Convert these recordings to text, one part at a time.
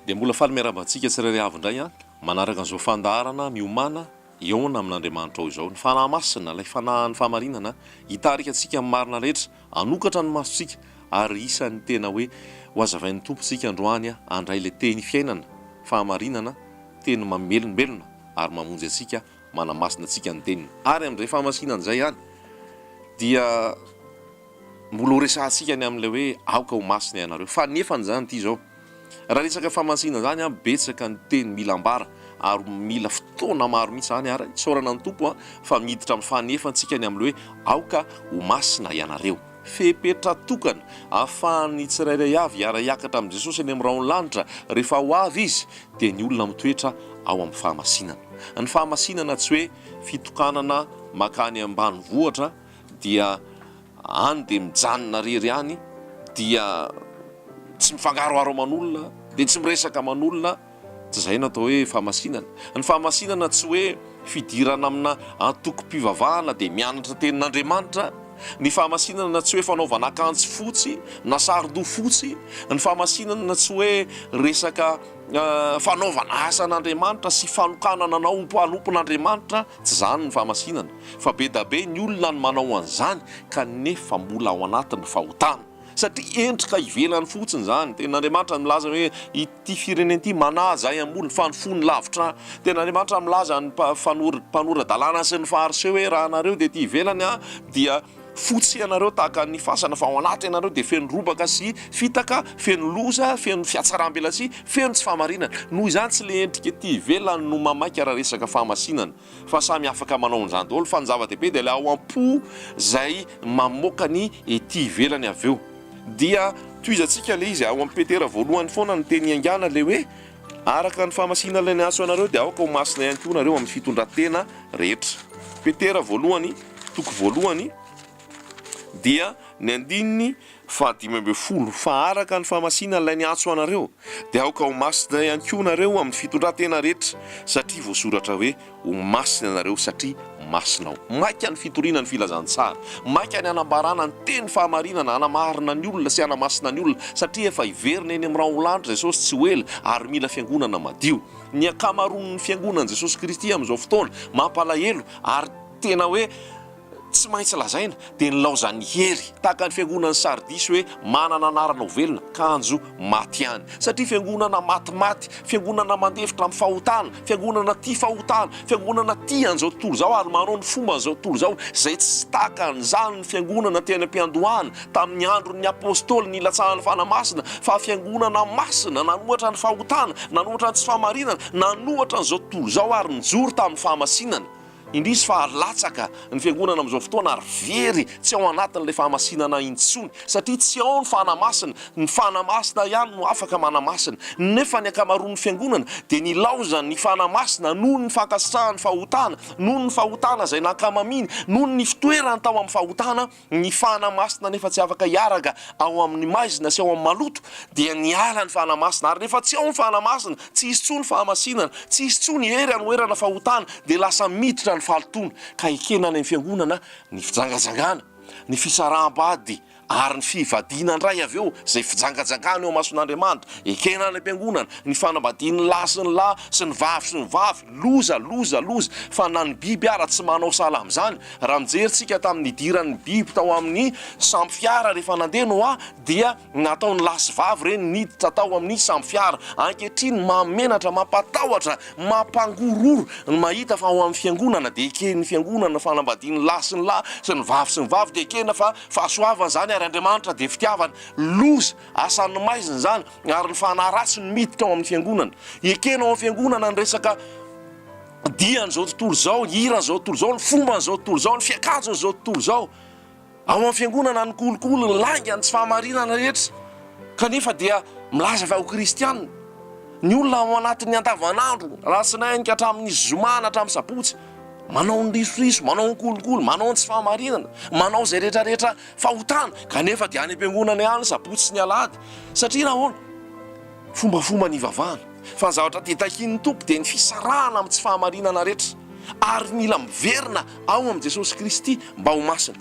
Dia mbola faly miarahaba antsika tsirairay avy indray an, manaraka an'izao fandaharana miomana hihaona amin'Andriamanitra ao izao. Ny Fanahy Masina, ilay Fanahin'ny fahamarinana, hitarika antsika amin'ny marina rehetra. Hanokatra ny masontsika ary isan'ny tena hoe ho hazavain'ny Tompo isika androany handray ilay Teny fiainana, fahamarinana, Teny mamelombelona ary mamonjy antsika, manamasina antsika ny Teniny. Ary amin'izay fahamasinany izay ihany dia mbola horesahantsika ny amin'ilay hoe aoka ho masina ianareo. Fanefany izany ity izao. Raha resaka famatsiana izany an, betsaka ny teny mila ambara ary mila fotoana maro mihitsy izany ary isaorana ny Tompo fa miditra amin'ny fanefantsika ny amin'ny hoe aoka ho masina ianareo. Fepetra tokana ahafahan'ny tsirairay avy hiara-hiakatra amin'i Jesosy any amin'ny rahon'ny lanitra rehefa ho avy Izy dia ny olona mitoetra ao amin'ny fahamasinana. Ny fahamasinana tsy hoe fitokanana makany ambanivohitra dia any dia mijanona rery any dia tsy mifangaroharo aman'olona dia tsy miresaka aman'olona tsy izay no atao hoe fahamasinana ny fahamasinana tsy hoe fidirana amina antokom-pivavahana dia mianatra tenin'Andriamanitra ny fahamasinana tsy hoe fanaovana akanjo fotsy na saron-doha fotsy ny fahamasinana tsy hoe resaka fanaovana asan'Andriamanitra sy fanokanana anao ho mpanompon'Andriamanitra Tsy izany ny fahamasinana, fa be da be ny olona no manao an'izany ka nefa mbola ao anatin ny fahotana, satria endrika ivelany fotsiny izany, Tenin Andriamanitra milaza hoe ity firenena ity manaja ahy amboly fa ny fony lavitra ahy, Tenin Andriamanitra milaza ny mpanora dalàna sy ny fariseo hoe raha nareo dia ety ivelany aho dia Fotsy ianareo tahaka ny fasana fa ao anaty ianareo dia feno robaka sy fitaka, feno loza, feno fiatsaram-belatsihy, feno tsy fahamarinana. Noho izany tsy le endrika ety ivelany no mamaika raha resaka fahamasinana fa samy afaka manao an'izany daholo fa ny zava-dehibe dia le ao am-po zay mamoaka ny ety ivelany avy eo dia tohizantsika le izy ao am-petera voalohany foana ny teny iangana le hoe Araka ny fahamasiana ilay niantso anareo dia aoka ho masina ihany koa nareo amin'ny fitondratena rehetra. Petera voalohany, toko voalohany, dia ny andininy fahadimy ambin'ny folo, fa araka ny fahamasiana ilay niantso anareo dia aoka ho masina ihany koa nareo amin'ny fitondratena rehetra, satria voasoratra hoe, Ho masina ianareo satria masina Aho. Maika ny fitoriana ny filazantsara. Maika ny hanambarana ny teny fahamarinana, hanamarina ny olona sy hanamasina ny olona, satria efa hiverina eny amin'ny raholandry Jesosy tsy ho ela ary mila fiangonana madio. Ny ankamaroan'ny fiangonan'i Jesosy Kristy amin'izao fotoana, mampalahelo ary tena hoe, Tsy maintsy lazaina dia nilaozan'i Hery, tahaka ny fiangonan'i Sardisy hoe manana anarana ho velona, kanjo maty ihany. Satria fiangonana matimaty, fiangonana mandefitra amin'ny fahotana, fiangonana tia fahotana, fiangonana tia an'izao tontolo izao ary manao ny fomban'izao tontolo izao, izay tsy tahaka an'izany ny fiangonana teny am-piandohana, tamin'ny andron'ny Apostoly nilatsahan'ny Fanahy Masina, fa fiangonana masina nanohatra ny fahotana, nanohatra ny tsy fahamarinana, nanohatra an'izao tontolo izao ary nijoro tamin'ny fahamasinana. Indrisy fa latsaka ny fiangonana amin'izao fotoana ary very tsy ao anatin'ilay fahamasinana intsony satria tsy ao ny Fanahy Masina, ny Fanahy Masina ihany no afaka manamasina nefa ny ankamaroan'ny fiangonana dia nilaozany ny Fanahy Masina noho ny fankasitrahan'ny fahotana, noho ny fahotana izay nankamaminy, noho ny fitoerany tao amin'ny fahotana. Ny fahana masina nefa tsy afaka hiaraka ao amin'ny maizina sy ao amin'ny maloto dia niala ny fahana masina ary rehefa tsy ao ny fahana masina tsy hisy tsony fahamasinana, tsy hisy tsony hery hanoherana fahotana dia lasa miditra ny fahalotoana ka ekena any amin'ny fiangonana ny fijangajangana, ny fisaraham-bady ary ny fivadiana indray avy eo izay fijangajangana eo mason'Andriamanitra, ekena any am-piangonana ny fanambadian'ny lahy sy ny lahy sy ny vavy sy ny vavy. Loza, loza, loza, fa na ny biby ara tsy manao sahala amin'izany, raha nijery tsika tamin'ny nidiran'ny biby tao amin'ny sambo fiara rehefa nandeha Noa dia nataony lahy sy vavy ireny niditra tao amin'ny sambo fiara, ankehitriny mahamenatra, mampatahotra, mampangororo ny mahita fa ao amin'ny fiangonana dia eken'ny fiangonana ny fanambadian'ny lahy sy ny lahy sy ny vavy sy ny vavy dia ekena fa fahasoavana izany ary Andriamanitra dia fitiavana, loza, Asan'ny maizina izany ary ny fanahy ratsy no miditra ao amin'ny fiangonana. Ekena ao amin'ny fiangonana ny resaka dian'izao tontolo izao, hiran'izao tontolo izao, ny fomban'izao tontolo izao, ny fiakanjon'izao tontolo izao. Ao amin'ny fiangonana ny kolikoly, ny lainga, ny tsy fahamarinana rehetra kanefa dia milaza fa ho kristiana. Ny olona ao anatin'ny andavanandro, alatsinainy ka hatramin'ny zoma na hatramin'ny sabotsy, manao ny risoriso, manao ny kolikoly, manao ny tsy fahamarinana, manao izay rehetrarehetra. Fahotana, kanefa dia any am-piangonana ihany sabotsy sy ny alahady. Satria nahoana? Fombafomba nivavahana. Fa ny zavatra dia takian'ny Tompo dia ny fisarahana amin'ny tsy fahamarinana rehetra. Ary mila miverina ao amin'i Jesosy Kristy mba ho masina.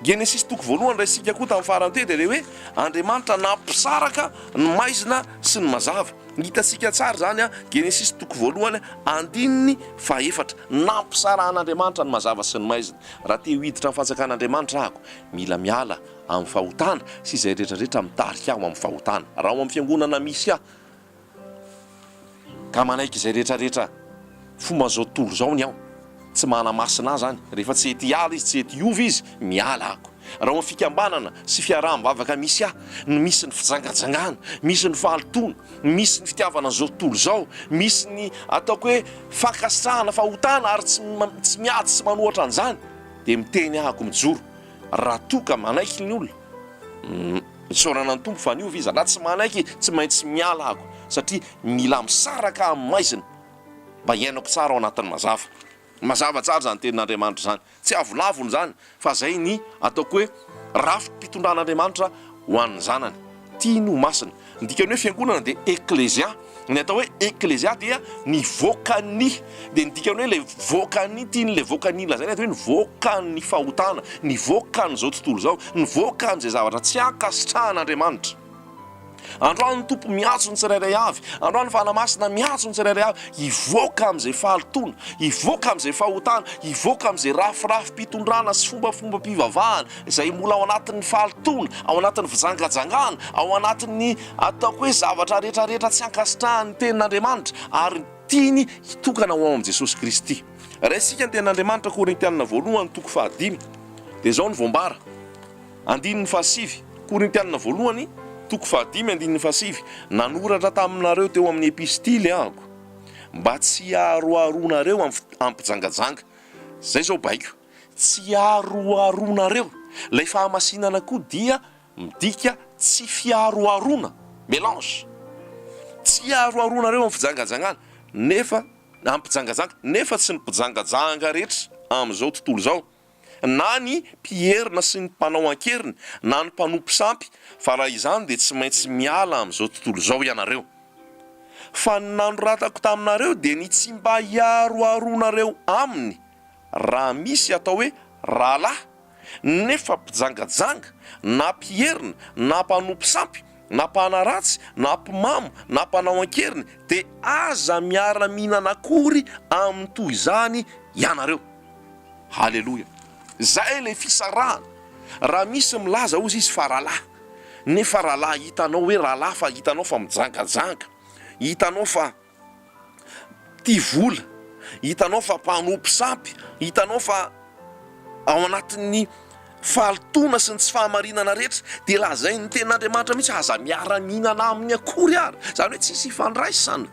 Genesisy toko voalohany raisintsika koa tamin'ny farany teo dia ilay hoe Andriamanitra nampisaraka ny maizina sy ny mazava. Hitantsika tsara izany, Genesisy toko voalohany andininy fahaefatra. Nampisarahan'Andriamanitra ny mazava sy ny maizina. Raha te ho hiditra amin'ny fanjakan'Andriamanitra ahako, mila miala amin'ny fahotana sy izay rehetrarehetra mitarika ahy ho amin'ny fahotana. Raha ao amin'ny fiangonana misy ahy ka manaiky izay rehetrarehetra fomba an'izao tontolo izao ny ao, tsy manamasina ahy izany, rehefa tsy hety hiala izy, tsy hety hiova izy, miala ahako. Raha ao amin'ny fikambanana sy fiaraha-mivavaka misy ahy no misy ny fijangajangana, misy ny fahalotoana, misy ny fitiavana izao tontolo izao, misy ny ataoko hoe fankasitrahana fahotana ary tsy tsy miady sy manohatra an'izany dia miteny aho ko mijoro raha toa ka manaiky ny olona isaorana ny Tompo fa niova izy, raha tsy manaiky tsy maintsy miala aho ko satria mila misaraka amin'ny maizina mba hiainako tsara ao anatin'ny mazava. Mazava tsara izany tenin'Andriamanitra izany. Tsy avolavony izany fa izay ny ataoko hoe rafi-pitondran'Andriamanitra ho an'ny zanany. Tiany ho masina. Ny dikan'ny hoe fiangonana dia eklezia. Ny atao hoe eklezia dia ny vokan'ny. Dia ny dikan'ny hoe ilay vokan'ny, tiany ilay vokan'ny lazaina eto hoe ny vokan'ny fahotana, ny vokan'izao tontolo izao, ny vokan'izay zavatra tsy ankasitrahan'Andriamanitra. Androany ny Tompo miantso ny tsirairay avy, androany ny Fanahy Masina miantso ny tsirairay avy hivoaka amin'izay fahalotoana, hivoaka amin'izay fahotana, hivoaka amin'izay rafirafim-pitondrana sy fombafombam-pivavahana izay mbola ao anatin'ny fahalotoana, ao anatin'ny fijangajangana, ao anatin'ny ataoko hoe zavatra rehetra rehetra tsy ankasitrahan'ny Tenin'Andriamanitra ary tiany hitokana ho ao amin'i Jesosy Kristy. Raha isika ny Tenin'Andriamanitra, Korintiana Voalohany toko fahadimy, dia izao no voambara. Andininy fahasivy, Korintianina voalohany, toko fahadimy andininy fahasivy, Nanoratra taminareo teo amin'ny epistily aho mba tsy hiaroharoanareo amin'ny hampijangajanga. Izay izao baiko. Tsy hiaroharoanareo. Ilay fahamasinana koa dia midika tsy fiharoharoana, melange. Tsy hiaroharoanareo amin'ny fijangajangana, nefa, amin'ny mpijangajanga, nefa tsy ny mpijangajanga rehetra amin'izao tontolo izao. na ny mpiherina sy ny mpanao an-keriny na ny mpanompo sampy fa raha izany dia tsy maintsy miala amin'izao tontolo izao ianareo. Fa ny nanoratako taminareo dia ny tsy mba hiaroharoanareo aminy raha misy atao hoe rahalahy nefa mpijangajanga na mpiherina na mpanompo sampy, na mpanaratsy, na mpimamo, na mpanao an-keriny, dia aza miara-mihinana akory aminy toy izany ianareo. Haleloia. Izay ilay fisarahana. Raha misy milaza, hozy izy, fa rahalahy, nefa rahalahy, hitanao hoe rahalahy fa hitanao fa mijangajanga, hitanao fa. Tia vola, hitanao fa mpanompo sampy, hitanao fa ao anatin'ny fahalotoana sy ny tsy fahamarinana rehetra, dia lazain'ny tenin'Andriamanitra mihitsy hoe aza miara-mihinana aminy akory ary, izany hoe tsisy ifandraisana,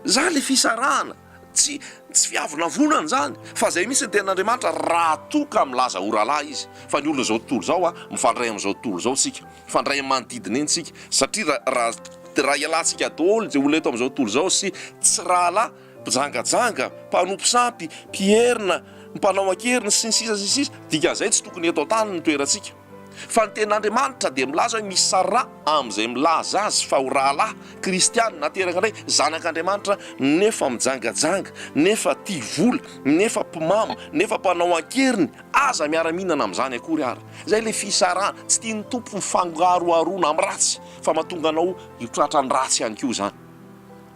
izany ilay fisarahana, tsy tsy fiavonavonana izany, fa izay mihitsy ny tenin'Andriamanitra raha toa ka milaza ho rahalahy izy, fa ny olona izao tontolo izao an, mifandray amin'izao tontolo izao isika, Mifandray amin'ny manodidina eny isika satria raha ialatsika daholo izay olona eto amin'izao tontolo izao sy tsy rahalahy, mpijangajanga, mpanompo sampy, mpierina, mpanao an-keriny sy ny sisa sy ny sisa, dikan'izay tsy tokony eto an-tany ny toerantsika. Fa ny Tenin'Andriamanitra dia milaza hoe misy sara amin'izay milaza azy fa ho rahalahy, kristiana, nateraka indray, zanak'Andriamanitra nefa mijangajanga, nefa tia vola, nefa mpimamo, nefa mpanao an-keriny, Aza miara-mihinana amin'izany akory ary. Izay ilay fisarahana. Tsy tian'ny Tompo ny fangaroharoana amin'ny ratsy, fa mahatonga anao hitratra ny ratsy ihany koa izany.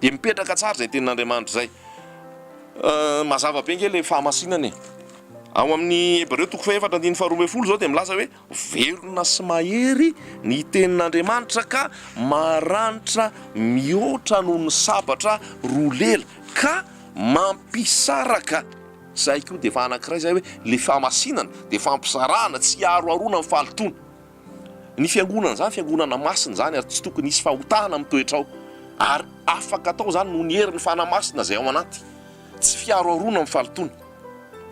Dia mipetraka tsara izay tenin'Andriamanitra izay. Mazava be ange ilay fahamasinana e! Ao amin'ny Hebreo toko fahefatra andininy faharoa ambin'ny folo izao dia milaza hoe, Velona sy mahery ny tenin'Andriamanitra ka maranitra mihoatra noho ny sabatra roa lela, ka mampisaraka. Zay koa dia efa anankiray izay hoe le famasinana dia fampizarana tsy aharoharoana ny fahalotoana. Ny fiangonana izany fiangonana masina izany ary tsy tokony hisy fahotana amin'ny toetra ao ary afaka atao izany noho ny herin'ny Fanahy Masina izay ao anaty. Tsy fiaroharoana amin'ny fahalotoana.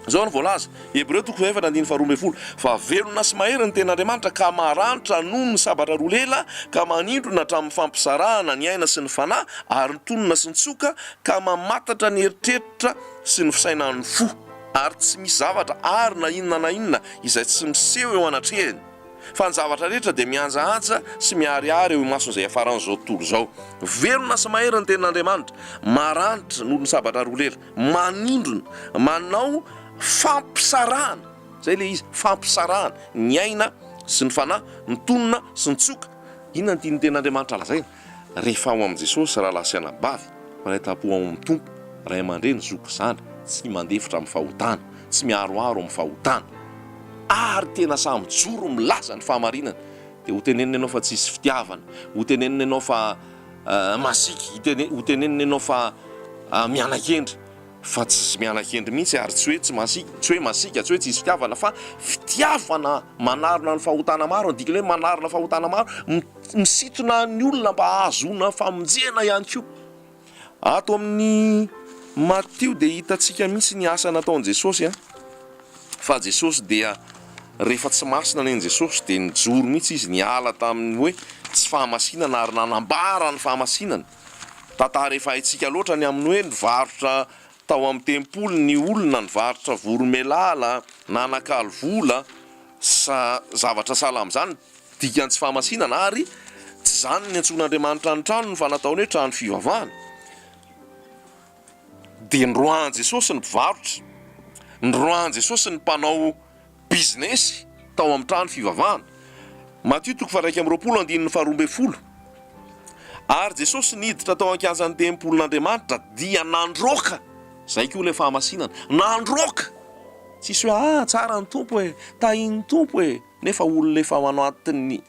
Izao no voalaza, Hebreo toko fahefatra andininy faharoa ambin'ny folo, Fa velona sy mahery ny ten'Andriamanitra ka maranitra noho ny sabatra roa lela ka manindrona hatramin'ny fampizarana ny aina sy ny fanahy ary ny tonona sy ny tsoka ka mamantatra ny eritreritra sy ny fisainan'ny fo, ary tsy misy zavatra àry na inona na inona izay tsy miseho eo anatrehany, fa ny zavatra rehetra dia mihanjahaja sy miharihary eo imason'izay hiafaran'izao tontolo izao. Velona sy mahery ny tenin'Andriamanitra, maranitra noho ny sabatra roa lela, manindrona, manao fampisarahana, izay ilay izy, fampisarahana, ny aina sy ny fanahy, ny tonona sy ny tsioka. Inona no tian'ny tenin'Andriamanitra lazaina? Rehefa ao amin'i Jesosy rahalahy sy anabavy, mpanaitampo ao amin'ny Tompo, ray aman-dreny, zoky zandry, tsy mandefitra amin'ny fahotana, tsy miharoharo amin'ny fahotana, ary tena sahy mijoro milaza ny fahamarinana, dia hotenenina ianao fa tsy hisy fitiavana, hotenenina ianao fa masiaka, hotenenina ianao fa miana-kendry. Fa tsy miala hendry mihitsy ary tsy hoe tsy masiaka, tsy hoe masiaka, tsy hoe tsisy fitiavana fa fitiavana manarona ny fahotana maro, ny dikan'ilay hoe manarona fahotana maro, misintona ny olona mba hahazoana famonjena ihany koa. Ato amin'ny Matio dia hitantsika mihitsy ny asa nataon'i Jesosy a! fa Jesosy dia rehefa tsy masina nen'i Jesosy dia nijoro mihitsy izy niala tamin'ny hoe tsy fahamasinana ary nanambara ny fahamasinana. Tantara efa haintsika loatra ny amin'ny hoe nivarotra tao amin'ny tempoly ny olona, nivarotra voromailala, nanakalo vola, sa zavatra sahala amin'izany, dikan'ny tsy fahamasinana, ary tsy izany niantsoan'Andriamanitra ny tranony fa nataony hoe trano fivavahana. Dia niroahan'i Jesosy ny mpivarotra, niroahan'i Jesosy ny mpanao. bizinesy tao amin'ny trano fivavahana. Matio toko faha-iraika amby roapolo andininy faharoa ambin'ny folo Ary Jesosy niditra tao an-kianjan'ny tempolin'Andriamanitra dia nandroaka, izay koa ilay fahamasinana, nandroaka! Tsisy hoe, ah, tsara ny Tompo e, tahin'ny Tompo e, nefa olona efa ao anatin'ny.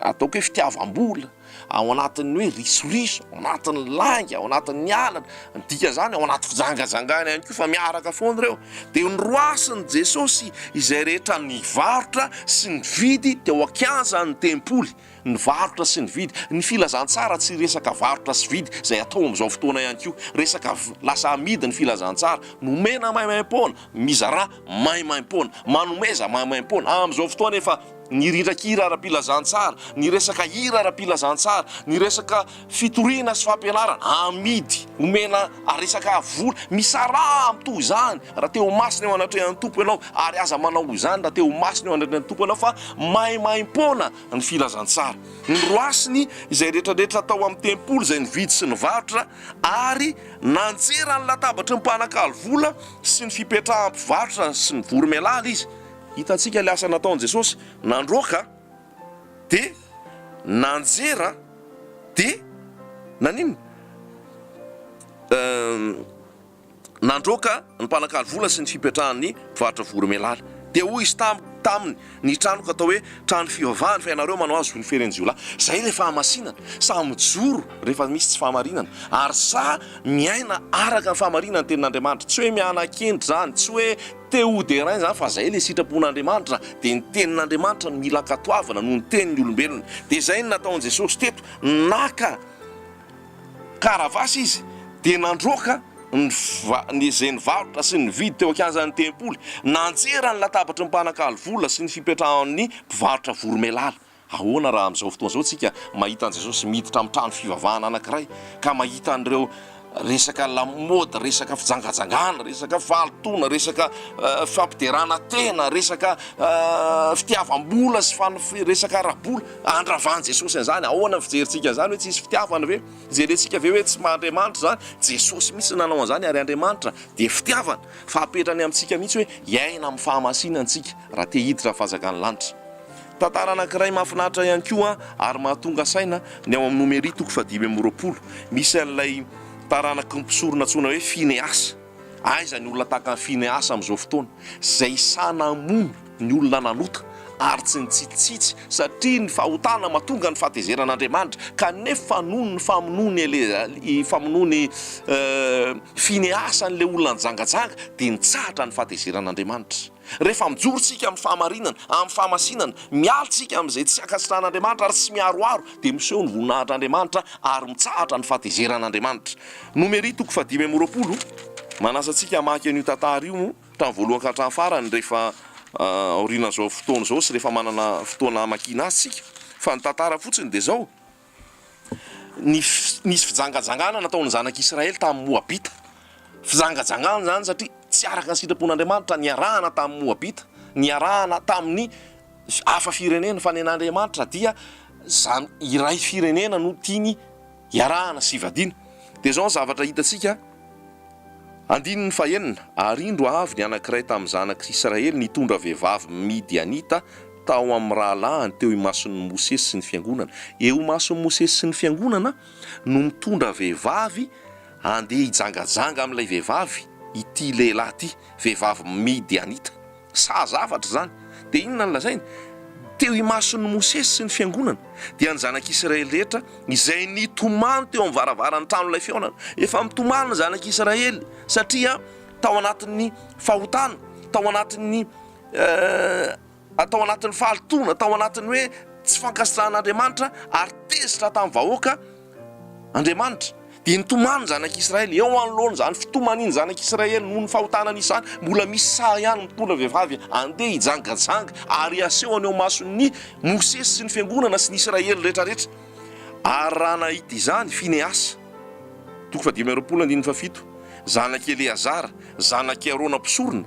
Ataoko hoe fitiavam-bola, ao anatin'ny hoe risoriso, ao anatin'ny lainga, ao anatin'ny alina, ny dikan'izany ao anaty fijangajangana ihany koa fa miaraka foana ireo. Dia noroasin'i Jesosy izay rehetra nivarotra sy nividy teo an-kianjan'ny tempoly, nivarotra sy nividy. Ny filazantsara tsy resaka varotra sy vidy izay atao amin'izao fotoana ihany koa, resaka lasa amidy ny filazantsara, nomena maimaimpoana, mizarà maimaimpoana, manomeza maimaimpoana, amin'izao fotoana efa. ny rindran-kira ara-pilazantsara, ny resaka hira ara-pilazantsara, ny resaka fitoriana sy fampianarana, amidy, omena resaka vola, misaraha mitovy izany raha te ho masina eo anatrehan'ny Tompo ianao, ary aza manao izany raha te ho masina eo anatrehan'ny Tompo ianao fa maimaimpoana ny filazantsara. Noroasiny izay rehetrarehetra tao amin'ny tempoly izay nividy sy nivarotra, ary nanjera ny latabatry ny mpanakalo vola sy ny fipetrahan'ny mpivarotra sy ny voromailala izy. Hitantsika ilay asa nataon'i Jesosy, nandroaka dia nanjera dia naninona? Nandroaka ny mpanakalo vola sy ny fipetrahan'ny mpivarotra voromailala. Dia hoy Izy taminy, Ny tranoko atao hoe trano fivavahana, fa ianareo manao azy ho ny feren-jiolahy. Izay ilay fahamasinana. Sahy mijoro rehefa misy tsy fahamarinana, ary sahy miaina araka ny fahamarinan'ny Tenin'Andriamanitra. Tsy hoe miana-kendry izany, tsy hoe. Théo Derain izany fa izay ilay sitrapon'Andriamanitra dia ny tenin'Andriamanitra no mila ankatoavina noho ny tenin'ny olombelona dia izay no nataon'i Jesosy teto naka karavasy izy dia nandroaka ny izay nivarotra sy nividy teo ankianjan'ny tempoly nanjera ny latabatry ny mpanakalo vola sy ny fipetrahan'ny mpivarotra voromailala Ahoana raha amin'izao fotoana izao isika mahita an'i Jesosy miditra amin'ny trano fivavahana anankiray, ka mahita an'ireo resaka lamaody, resaka fijangajangana, resaka fahalotoana, resaka fampiderana tena, resaka fitiavam-bola sy fanofi-, resaka ara-bola. Andravan'i Jesosy an'izany. Ahoana ny fijerintsika an'izany? Hoe tsy hisy fitiavana ve? Jerentsika ve hoe tsy maha-Andriamanitra izany? Jesosy mihitsy no nanao an'izany, ary Andriamanitra dia fitiavana. Fa apetrany amintsika mihitsy hoe hiaina amin'ny fahamasinana isika, raha te hiditra amin'ny fanjakan'ny lanitra. Tantara anankiray mahafinaritra ihany koa ary mahatonga saina ny ao amin'ny Nomery toko fahadimy amby roapolo. Misy an'ilay taranaky ny mpisorona antsoina hoe Finehasa. Aiza ny olona tahaka an'i Finehasa amin'izao fotoana, izay sahy namono ny olona nanota ary tsy nitsitsitsitsy satria ny fahotana mahatonga ny fahatezeran'Andriamanitra, kanefa noho ny famonoan'i Elea-, famonoan'i Finehasa an'ilay olona nijangajanga dia nitsahatra ny fahatezeran'Andriamanitra. Rehefa mijoro isika amin'ny fahamarinana, amin'ny fahamasinana, miala isika amin'izay tsy ankasitrahan'Andriamanitra ary tsy miharoharo, dia miseho ny voninahitr'Andriamanitra ary mitsahatra ny fahatezeran'Andriamanitra. Nomery toko fahadimy amby roapolo, Manasa antsika hamaky an'io tantara io hatramin'ny voalohany ka hatramin'ny farany rehefa aorianan'izao fotoana izao sy rehefa manana fotoana hamakiana azy isika. Fa ny tantara fotsiny dia izao. Nisy fijangajangana nataon'ny zanak'i Israely tamin'ny Moabita. Fijangajangana izany satria tsy araka ny sitrapon'Andriamanitra niarahana tamin'ny Moabita, niarahana tamin'ny hafa firenena, fa nen'Andriamanitra dia zan- iray firenena no tiany hiarahana sy hivadiana. Dia izao ny zavatra hitantsika. Andininy fahenina, Ary indro avy ny anankiray tamin'ny zanak'i Israely nitondra vehivavy midianita tao amin'ny rahalahiny teo imason'i Mosesy sy ny fiangonana. Eo imason'i Mosesy sy ny fiangonana no mitondra vehivavy handeha hijangajanga amin'ilay vehivavy ity lehilahy ity, vehivavy midianita. Saha zavatra izany. Dia inona no lazainy? Teo imason'i Mosesy sy ny fiangonana, dia ny zanak'Israely rehetra izay nitomany teo amin'ny varavaran'ny tranon'ilay fihaonana. Efa mitomany ny zanak'Israely, satria tao anatin'ny fahotana, tao anatin'ny tao anatin'ny fahalotoana, tao anatin'ny hoe tsy fankasitrahan'Andriamanitra, ary tezitra tamin'ny vahoaka. Andriamanitra, dia nitomany ny zanak'i Israely. Eo anoloan'izany fitomaniny zanak'i Israely noho ny fahotanany izany, mbola misy saha ihany mitondra vehivavy handeha hijangajanga ary haseho any ao mason'i Mosesy sy ny fiangonana sy ny Israely rehetrarehetra. Ary raha nahita izany i Finehasa, toko fahadimy amby roapolo andininy fahafito, zanak'i Eleazara, zanak'i Arona mpisorona,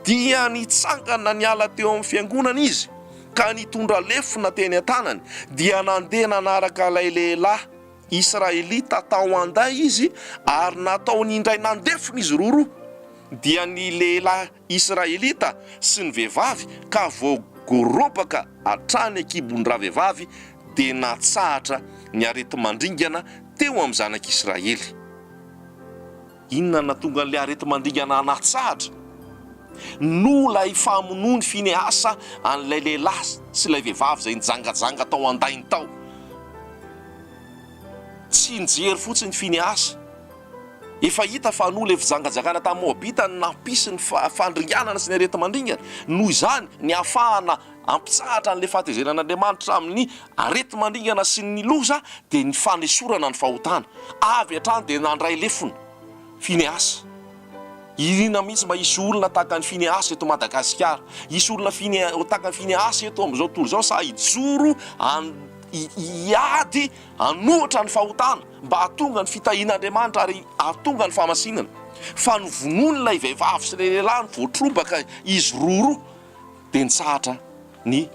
dia nitsangana niala teo amin'ny fiangonana izy, ka nitondra lefona teny an-tanany, dia nandeha nanaraka ilay lehilahy Israelita tao an-day izy, ary nataony indray nandefona izy roroa, dia ny lehilahy Israelita sy ny vehivavy, ka voagorobaka hatrany an-kibon-dravehivavy, dia natsahatra ny areti-mandringana teo amin'ny zanak'Israely. Inona no nahatonga an'ilay areti-mandingana hanatsahatra? Noho ilay famonoan'i Finehasa an'ilay lehilahy sy ilay vehivavy izay nijangajanga tao an-dainy tao. Tsy nijery fotsiny i Finehasa. Efa hita fa noho ilay fijangajangana tamin'ny Moabita no nampisy ny fandringanana sy ny areti-mandringana. Noho izany, ny hahafahana Hampitsahatra an'ilay fahatezeran'Andriamanitra amin'ny areti-mandringana sy ny loza dia ny fanesorana ny fahotana. Avy hatrany dia nandray lefona Finehasa. Iriana mihitsy mba hisy olona tahaka an'i Finehasa eto Madagasikara. Hisy olona Fine- tahaka an'i Finehasa eto amin'izao tontolo izao sahy hijoro han- hi- hiady hanohitra ny fahotana mba hahatonga ny fitahian'Andriamanitra ary hahatonga ny fahamasinana. Fa novonoin'ilay vehivavy sy ilay lehilahy no voatrobaka izy roa roa. dia nitsahatra ny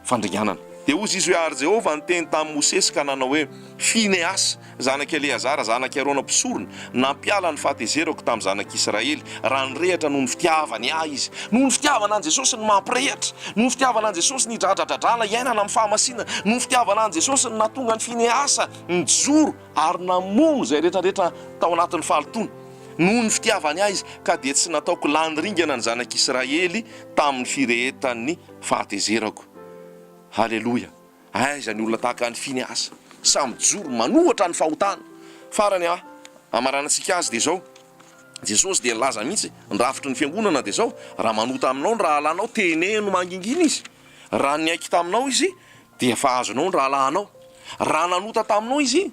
fandringanana. Dia hozy izy hoe, Ary Jehovah niteny tamin'i Mosesy ka nanao hoe, Finehasy, zanak'i Eleazara, zanak'i Arona mpisorona, nampiala ny fahatezerako tamin'ny zanak'Israely, raha nirehatra noho ny fitiavany ahy izy. Noho ny fitiavana an'i Jesosy ny mampirehatra, noho ny fitiavana an'i Jesosy ny dradradradrana iainana amin'ny fahamasinana, noho ny fitiavana an'i Jesosy ny nahatonga an'i Finehasa nijoro, ary namono izay rehetrarehetra tao anatin'ny fahalotoana, noho ny fitiavany ahy izy, ka dia tsy nataoko lany ringana ny zanak'Israely tamin'ny firehetan'ny fahatezerako. Haleloia! Aiza ny olona tahaka an'i Finehasa? Samy mijoro manohatra ny fahotana. Farany ah, hamaranantsika azy dia izao, Jesosy dia nilaza mihitsy, ny rafitry ny fiangonana dia izao, Raha manota aminao ny rahalanao, teneno mangingina izy. Raha niaiky taminao izy, Dia efa azonao ny rahalahinao. Raha nanota taminao izy,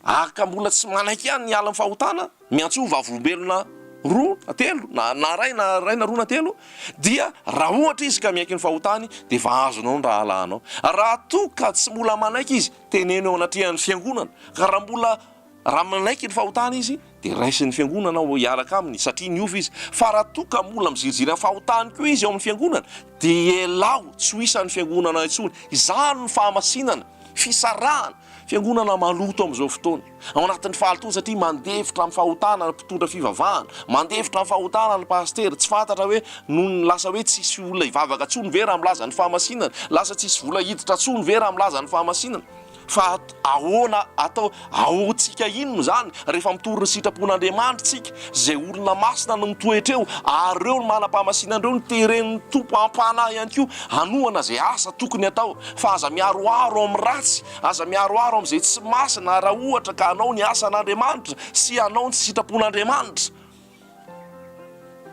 ary ka mbola tsy manaiky ihany ny hiala amin'ny fahotana, miantso ho vavolombelona roa na telo, na, na iray, na iray na roa na telo, dia raha ohatra izy ka miaiky ny fahotany, dia efa azonao ny rahalahinao. Raha toa ka tsy mbola manaiky izy, teneno eo anatrehan'ny Fiangonana. Ka raha mbola. Raha manaiky ny fahotana izy, dia raisin'ny Fiangonana aho hiaraka aminy satria niova izy. Fa raha toa ka mbola miziriziry amin'ny fahotany koa izy ao amin'ny Fiangonana, dia elaho tsy ho isan'ny Fiangonana intsony. Izany no fahamasinana, fisarahana, Fiangonana maloto amin'izao fotoana, ao anatin'ny fahalotoana satria mandefitra amin'ny fahotana ny mpitondra fivavahana, mandefitra amin'ny fahotana ny pasitera, tsy fantatra hoe nony lasa hoe tsisy olona hivavaka intsony ve raha milaza ny fahamasinana? Lasa tsisy vola hiditra intsony ve raha milaza ny fahamasinana? Fa ahoana atao? Ahoantsika inona izany rehefa mitory ny sitrapon'Andriamanitra isika? Izay olona masina no mitoetra eo, ary ireo no manam-pahamasinana, ireo no teren'ny Tompo am-panahy ihany koa hanohana izay asa tokony hatao. Fa aza miharoharo amin'ny ratsy, aza miharoharo amin'izay tsy masina, raha ohatra ka hanao ny asan'Andriamanitra sy hanao ny sitrapon'Andriamanitra.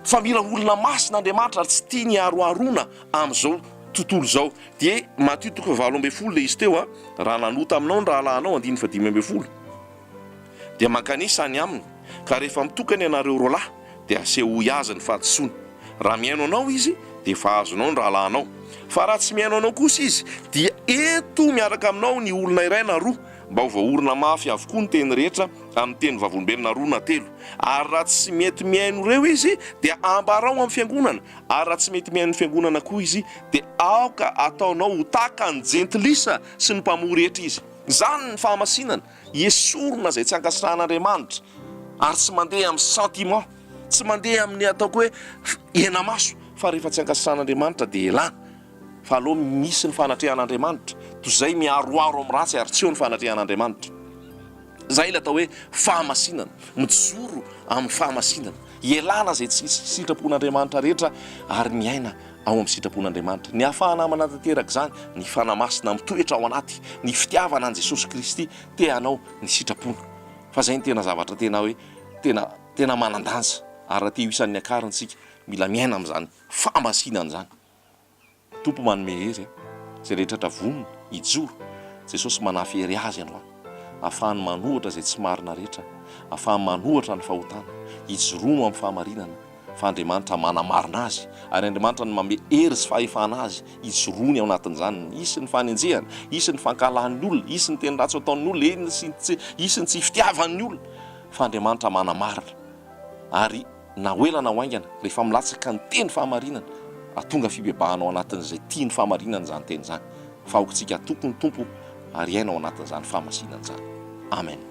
Fa mila olona masina Andriamanitra ary tsy tiany haroharoana amin'izao tontolo izao. DH, Matio toko fahavalo ambin'ny folo ilay izy teo a! Raha nanota aminao ny rahalahinao, andininy fahadimy ambin'ny folo, dia mankanesa any aminy, ka rehefa mitokana ianareo roalahy, dia asehoy azy ny fahadisoany. Raha mihaino anao izy, dia efa azonao ny rahalahinao. Fa raha tsy mihaino anao kosa izy, dia ento miaraka aminao ny olona iray na roa, Mba ho voaorina mafy avokoa ny teny rehetra amin'ny teny vavolombelona roa na telo. Ary raha tsy mety mihaino ireo izy, dia ambarao amin'ny fiangonana, ary raha tsy mety mihaino ny fiangonana koa izy, dia aoka ataonao ho tahaka ny jentilisa sy ny mpamoa rehetra izy. Izany ny fahamasinana, esorina izay tsy ankasitrahan'Andriamanitra, ary tsy mandeha amin'ny sentiment, tsy mandeha amin'ny ataoko hoe henamaso, fa rehefa tsy ankasitrahan'Andriamanitra dia elana. Fa aleo misy ny fanatrehan'Andriamanitra, toy izay miaroaro amin'ny ratsy ary tsy eo ny fanatrehan'Andriamanitra. Izay ilay atao hoe fahamasinana, mijoro amin'ny fahamasinana, ialana izay tsy sitrapon'Andriamanitra rehetra ary miaina ao amin'ny sitrapon'Andriamanitra. Ny hahafahana manatanteraka izany, ny Fanahy Masina mitoetra ao anaty, ny fitiavana an'i Jesosy Kristy te hanao ny sitrapony. Fa izay no tena zavatra tena hoe tena tena manan-danja ary raha te ho isan'ny niakariny isika, mila miaina amin'izany fahamasinana izany. Tompo manome hery a zay rehetra tra vonona hijoro Jesosy manafy hery azy ianao afahany manohatra zay tsy marina rehetra afahany manohatra ny fahotana hijoroa am fahamarinana fa Andriamanitra manamarina azy ary Andriamanitra no manome hery sy fahefana azy hijoroany ao anatin'izany hisy ny fanenjehana hisy ny fankahalan'ny olona hisy ny teny ratsy ataon'ny olona eny sy ny tsy hisy ny tsy fitiavan'ny olona fa Andriamanitra manamarina ary na ho ela na ho haingana, rehefa milatsaka ny teny fahamarinana, atonga fibebahana ao anatin'izay tia ny fahamarinana izany teny izany, fa aokintsika hatoky ny Tompo ary hiaina ao anatin'izany fahamasinana izany. Amen.